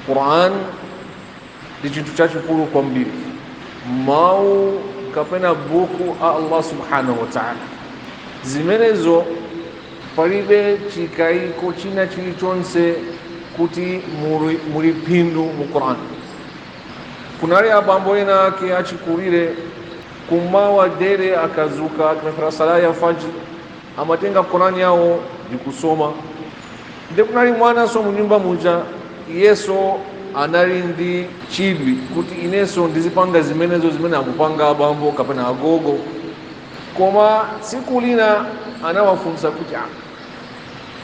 Qur'an ndi chinthu chachikulu kwambiri mawu kapena buku a Allah subhanahu wa ta'ala zimenezo palibe chikaiko china chilichonse kuti muli, muli phindu mu Qur'an kunali abambo ena ake achikulire kummawa dere akadzuka akapemphera sala ya fajr amatenga Qur'an yawo ndikusoma nde kunali mwananso mnyumba muja iyenso anali ndi chidwi kuti inenso ndizipanga zimenezo zimene akupanga abambo kapena agogo koma tsiku lina anawafunsa kuti ah,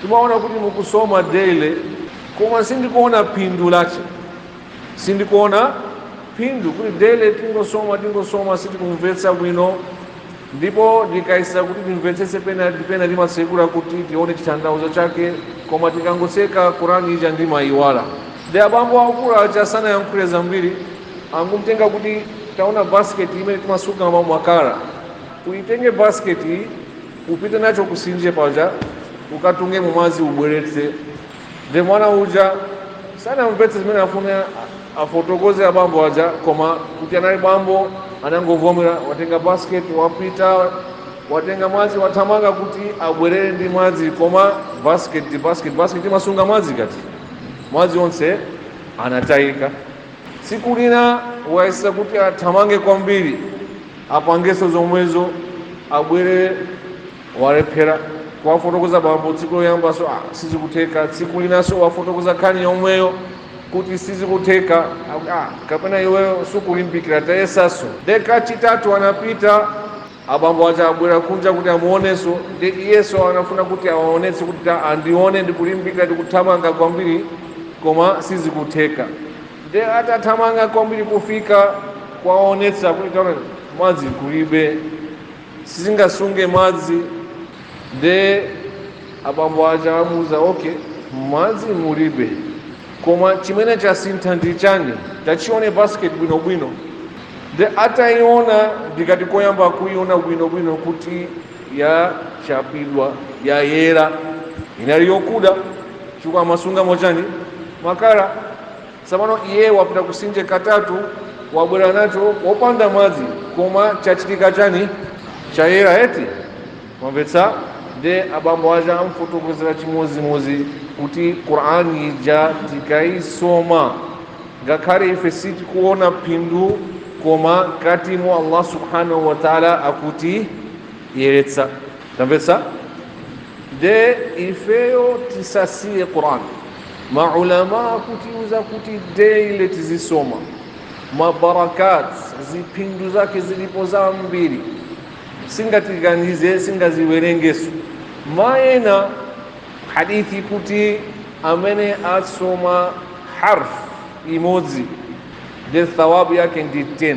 timaona kuti mukusoma daily koma sindikuona phindu lache sindikuona phindu kuti daily tingosoma tingosoma sitikumvetsa bwino ndipo tikayesa kuti timvetsetse pena timatsekula kuti tione chitanthauzo chake koma tikangotseka Qur'an ija ndimayiwala nde abambo akulu aja sanayankhule zambiri angumtenga kuti taona basiketi imene timasunga makala uyitenge basiketi upite nacho kumtsinje paja ukatunge mumadzi ubweretse Ndiye mwana uja sanamvetse zimene afuna afotokoze abambo aja koma kuti anali bambo anangovomera watenga basket wapita watenga madzi wathamanga kuti abwerere ndi madzi koma basket ndi basket basket imasunga madzi kati madzi onse anatayika tsiku lina wayesetsa kuti athamange kwambiri apangenso zomwezo abwere walephera kuwafotokoza bambo tsiku loyambanso ah, sizikutheka tsiku linanso wafotokoza nkhani yomweyo kuti sizikutheka ah, kapena iweyo sukulimbikira tayesanso nde kachitatu anapita abambo aja abwera kunja kuti amuonenso ndi iyenso anafuna kuti awaonetse kuti andione ndikulimbikira ndikuthamanga kwambiri koma sizikutheka nde atathamanga kwambiri kufika kuwaonetsa kuti taona madzi kulibe sizingasunge madzi nde abambo aja amuuza okay madzi mulibe koma chimene chasintha ndi chani tachione basket bwinobwino nde atayiona ndikati koyamba kuyiona bwinobwino kuti yachapidwa yayera inali yokuda chifukwa amasungamo chani makala Tsopano iye wapita kumtsinje katatu, wabwera nacho wopanda madzi, koma chachitika chani? Chayera eti? Mwamvetsa? Nde abambo aja amfotokozera chimodzimodzi kuti Qur'an ija tikaisoma ngakhale ife sitikuona phindu koma mkatimo Allah subhanahu wa ta'ala akutiyeretsa. Tamvetsa? nde ifeyo tisasiye quran maulama akutiuza kuti daily tizisoma mabarakat ziphindu zake zilipo zambiri singatiganize singaziwerengeso maana hadith kuti amene asoma harf imodzi nde thawabu yake ndi 10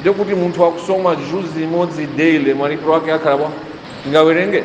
Nde kuti munthu akusoma juzi imodzi daily malipiro ake akhala bwa? Tingawerenge?